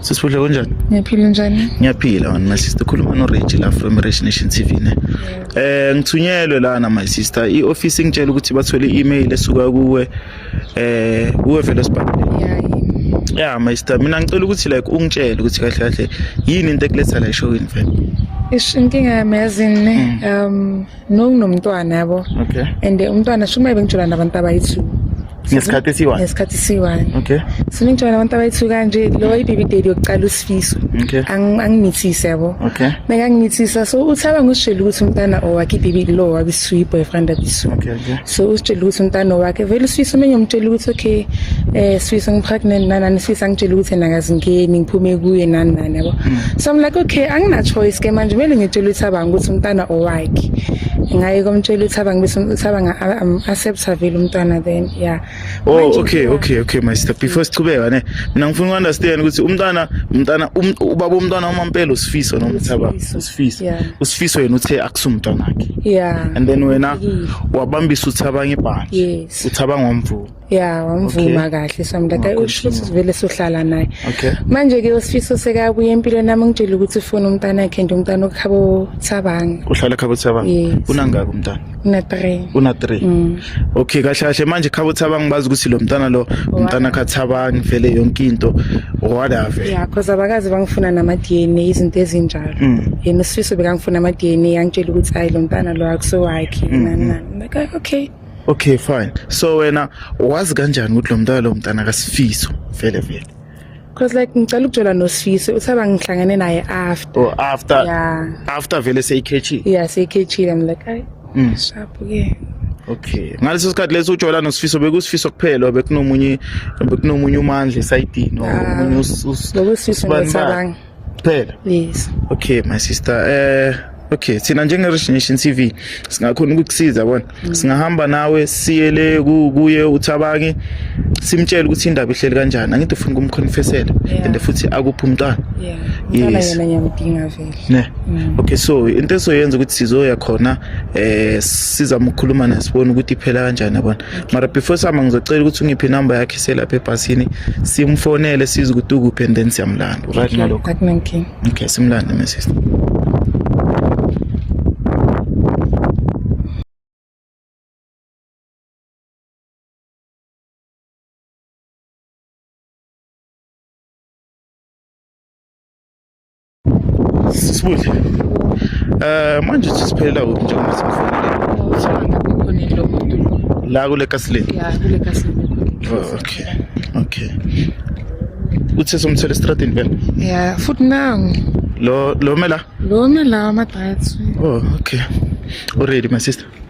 Sisibuhle kunjani? Ngiyaphila njani? Ngiyaphila wena my sister khuluma no Reggie la from Rich Nation TV ne. Eh ngithunyelwe lana my sister i office ngitshela ukuthi bathole i-email esuka kuwe eh uwe vele sibhalile. Yeah, yeah. Yeah my sister mina ngicela ukuthi like ungitshele ukuthi kahle kahle yini into ekuletha la eshowini vele. Ish inkinga yami yazini mm. um nokunomntwana yabo okay and umntwana shumaye bengitshela nabantu abayi-two ngesikhathi esiyi-one ngesikhathi esiyi-one okay so ningitshela nabantu abayi-two kanje lowo i-baby daddy yokuqala usifiso okay angimithise yabo okay meka ngimithisa so uthaba ngosishela ukuthi umntana owakhe i-baby lo wabisiwu i-boyfriend abisiwu okay okay so usitshela ukuthi umntana wakhe vele usifisa omenye umtshela ukuthi okay eh sifisa ngipregnant nanani sifisa ngitshela ukuthi nakazingeni ngiphume kuye nani nani yabo mm. so i'm like okay angina choice ke manje kumele ngitshele ukuthi abanga ukuthi umntana owakhe ngaye komtshela ukuthi abanga bese abanga accept vele umntana then yeah oh okay okay okay my sister before sichubeka ne mina ngifuna ukunderstand ukuthi umntana umntana um, ubaba umntana umampela usifiso nomthaba Sifiso yeah. usifiso yena uthe akusumntwana wakhe yeah and then wena wabambisa uthi abanye ibhanje yes uthi abangomvuma yeah wamvuma okay. kahle samdata usifiso vele sohlala naye okay manje ke usifiso seka kuye empilo nami ngitshela ukuthi ufuna umntana wakhe nje umntana okhabo thabanga uhlala khabo thabanga yes. unangaki umntana Una 3. Una 3. Mm. Okay kahle kahle manje khabo Thabang ngibazi ukuthi lo mntana lo mntana kha Thabang ngivele yonke into whatever. Yeah because abakazi bangifuna nama DNA izinto ezinjalo. Mm. Yena usifiso bekangifuna ama DNA yangitshela ukuthi hayi lo mntana lo akuso wakhe mm, nani mm. nani. Like okay. Okay fine. So wena wazi kanjani ukuthi lo mntana lo mntana kasifiso vele vele. Cause like ngicela ukujola noSfisi uthaba ngihlangene naye after. Oh after. Yeah. After vele seyikhethile. Yeah seyikhethile I'm like ay. Mm. Sharp ke. Okay. Ngaleso sikhathi leso ujola noSfiso bekusifiso kuphela bekunomunye bekunomunye umandla esayidini omunye ah, uSfiso ngicabanga. kuphela yes okay my sister eh okay thina njenge-origination t v singakhona ukukusiza bona mm. singahamba nawe siye le kuye uthabangi simtshele ukuthi indaba ihleli kanjani angithi ufuna ukumconfessela and futhi akuphi umntwana yes ne mm. okay so into esoyenza ukuthi sizoya khona eh sizama ukukhuluma naye sibone ukuthi iphela kanjani yabona mara before sama ngizocela ukuthi ungiphe inamba yakhe selapha ebhasini simfonele size ukuthi ukuphi and then siyamlanda right okay. nalokho okay simlande my sister Sisibuhle. Eh manje sisiphelela kuphi njengoba sikufonile? La kule kasileni. Ya kule kasileni. Oh, okay. Okay. Uthe somthela estradini phela? Ya, futhi nangu. Lo lo mela? Lo mela ama diets. Oh, okay. Already my sister.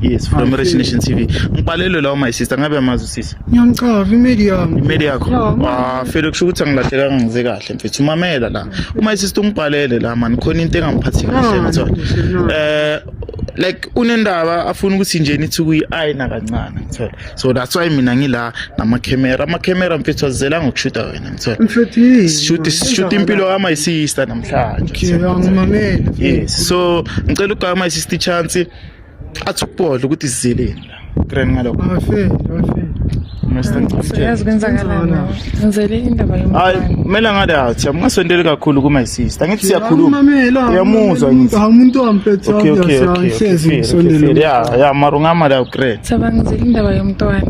Yes, from Hi, Rich Nation TV. Ngibhalelwe lawo my sister, ngabe amazi usisi. Ngiyamchava imeli yami. Imeli yakho. Ah, fela kusho ukuthi angilahlekanga ngize kahle mfethu. Umamela la. Uma sister ungibhalele la man, khona into engangiphathi kahle ngithola. Eh like unendaba afuna ukuthi nje nithi kuyi-ayina kancane ngithola so that's why mina ngila namakhemera amakhemera mfethu azizela ngokushuta wena ngitholashuta impilo kama sister namhlanje yes so ngicela ukugama my sister chance athi ukubodla ukuthi sizilile grand ngalokho bafile bafile Siyazi kwenzakalani. Ngizele indaba yomntwana. Hayi, kumele ngale athi amungasondeli kakhulu kuma sister. Ngithi siyakhuluma. Uyamuzwa ngithi. Hawu umuntu wamphethe okay, okay, okay, sihlezi ngisondele. Ya, ya mara ungama la ugrade. Saba ngizele indaba yomntwana.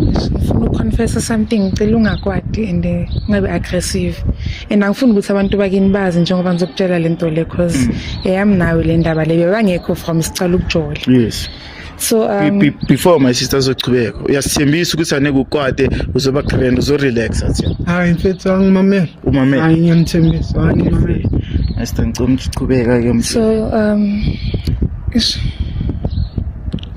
Ngifuna ukuconfessa something ngicela ungakwadi and eh, ungabe aggressive. And angifuni ukuthi abantu bakini bazi njengoba ngizokutshela lento le cause mm. eyami nawe le ndaba le bebangekho from siqala ukujola yes so um, be, be, before my sister zochubeka uyasithembisa ukuthi aneke ukwate uzoba grand uzorelaxa thina hayi mfethu angimamele umamele hayi ngiyamthembisa hayi ngimamele asitangicoma ukuthi uchubeka ke mfethu so um ish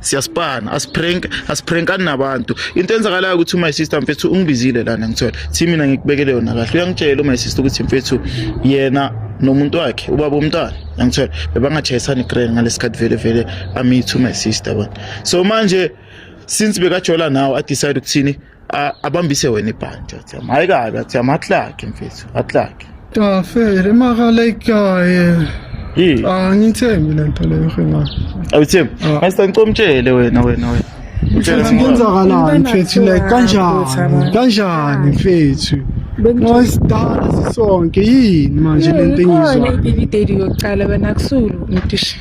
siyaspana asiprank asiprankani nabantu into enzakalayo ukuthi my sister mfethu ungibizile lana ngithola thi mina ngikubekele yona kahle uyangitshela my sister ukuthi mfethu yena nomuntu wakhe ubaba umntwana yangithola bebangajayisani grand ngalesikhathi vele vele amithu my sister bona so manje since bekajola nawo adecide ukuthini abambise wena ibhantshi athi hhayi kabi athi amaklakhe mfethu aklakhe tafele makalekaye yini angithembi le nto leyo hengane awuthembi ah. mase ngicomtshele wena wena wena mfethu kwenzakalani mfethu like kanjani kanjani mfethu ngoyisidala sisonke yini manje le nto engizwa ibideli yokuqala wena kusulu ngitishe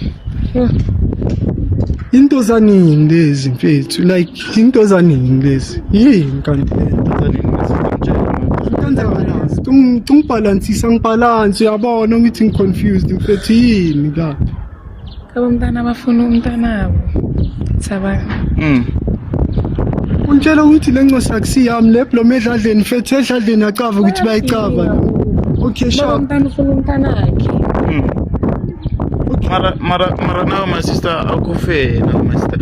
into zanini lezi mfethu like Into zanini lezi? Yini kanti le nto zanini lezi? Ungibhalansisa ngibhalansi uyabona ngithi ngiconfused mfethu yini la? Kabo mntana bafuna umntanabo. Sabana. Mm. Untshela ukuthi le ncosi akusiyami le blom edladleni mfethu edladleni acava ukuthi bayicava. Okay, sharp. Mntana ufuna umntanakhe. Mm. mara mara mara nawe my sister akufe nawe my sister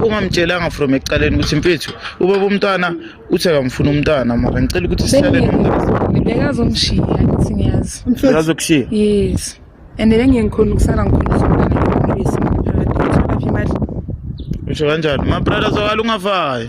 ungamtshelanga from ekuqaleni ukuthi mfethu ubaba umntwana uthi akamfuna umntwana mara ngicela ukuthi sihlale nomntwana bekazomshiya ngithi ngiyazi bekazokushiya yes and bengeke ngikhona ukusala ngikhona umntwana ngikhulisa ngaphakathi uthola phi imali usho kanjani ma brother zokala ungafayo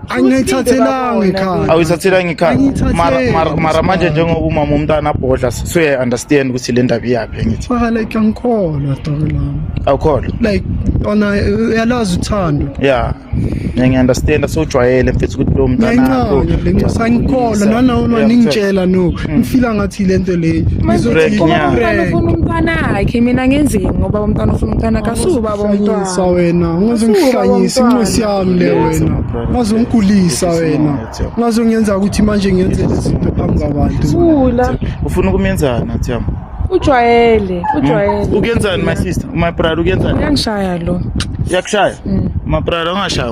angiyithathelanga ikhaya awuyithathelanga ikhaya Angiyithatheli. mara mara- mara manje njengoba umama umntana abhodla suye understand ukuthi le ndaba iyaphi engithi faka like angikholwa doko lami awukholwa like ona uyalazi uthando ya ngiyangiunderstanda sewujwayele mfethu ukuthi lo mntanakho ngiyayincanya le nkosi angikholwa nanawo Yeah, ningitshela no ngifila ngathi le nto leyo Break, Uma yeah. umntwana ufuna umntwana akhe mina ngenzeni ngoba umntwana ufuna umntwana kasuba bomntwana sa wena ungaze ngihlanyise inxesi yami le wena ungaze ngigulisa wena ungaze ngiyenza ukuthi manje ngenze izinto phambi kwabantu thula ufuna ukumyenzana nathiyam ujwayele ujwayele hmm? ukuyenzani my sister my brother ukuyenzani uyangishaya lo uyakushaya hmm. my brother ungashaya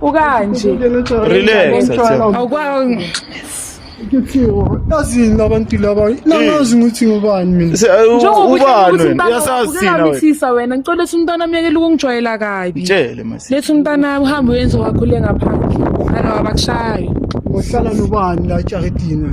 ukanje relax yazini labantu laba nangazi ukuthi ngubani mina njengokuyasazisinabisisa wena ngicela lethi umntwana myekele ukungijwayela kabi lethi umntwana uhambe uyenze wakhule ngaphandle ana wabakushayo ngohlala nobani la jaridini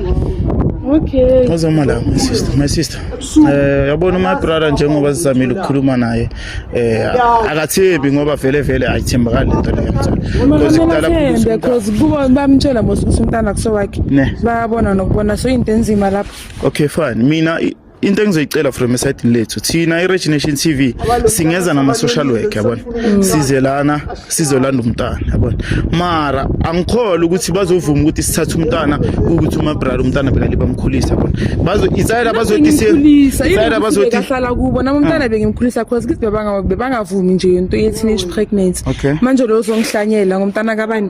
Okay. Uzoma la my sister, my sister. Eh yabona my brother njengoba sizamile ukukhuluma naye eh akathembi ngoba vele vele ayithembakali lento leyo mthola. Because kudala kubuza because kuba bamtshela mos ukuthi umntana kusowakhe. Bayabona nokubona so into enzima lapho. Okay fine. Mina into engizoyicela from esayidini lethu thina i-rich nation t v singeza nama-social work yabona mm. size lana sizolanda umntana yabona mara angikholwa ukuthi bazovuma ukuthi sithathe umntana ukuthi umabrara umntana bengali bamkhulisa yabona isayela bazotisayela bazotihlala kubo nami umntana ah. bengimkhulisa cause kithi bebangavumi nje into ye-teenage pregnancy manje loyo uzongihlanyela ngomntana kabani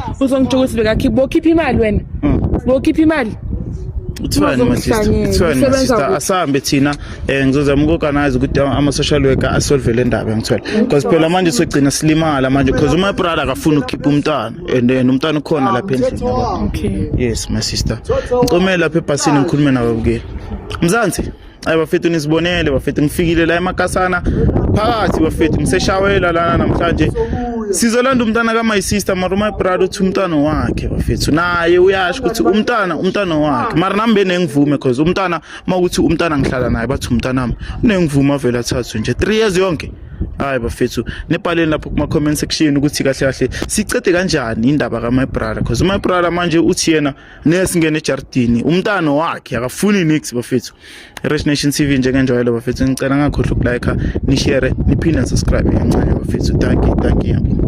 uzongitsho ukuthi bekakhipha bokhipha imali wena Mm. bokhipha imali kuthiwani ma sister Uzongihlanyela, kuthiwani ma usebenza sister kuphi? asihambe thina um ngizozama uku-organize ukuthi ama- ama-social worker asolve le ndaba ngithola because phela manje sogcina silimala manje because uma brother akafuni ukukhipha umntana and and umntana ukhona lapha endlini yabo. okay yes my sister ngicomele lapha ebhasini ngikhulume nababukeli mzansi Ay bafethu nisibonele bafethu ngifikile la emakasana phakathi bafethu ngiseshawela lana namhlanje sizolanda umntana ka my sister mara my brother uthi umntana wakhe bafethu naye uyasho ukuthi umntana umntana wakhe mara nami benengivume cause umntana makuthi umntana ngihlala naye bathi umntana wami unengivume avele athathwe nje 3 years yonke hayi bafethu nibhaleni lapho kuma comment section ukuthi kahle kahle sicede kanjani indaba ka my brother cause my brother manje uthi yena nesingena ejardini umntana wakhe akafuni nix bafethu Rich Nation TV njengenjwayelo bafethu ngicela ngakhohlwa ukulike nishare niphinde subscribe kancane bafethu thank you thank you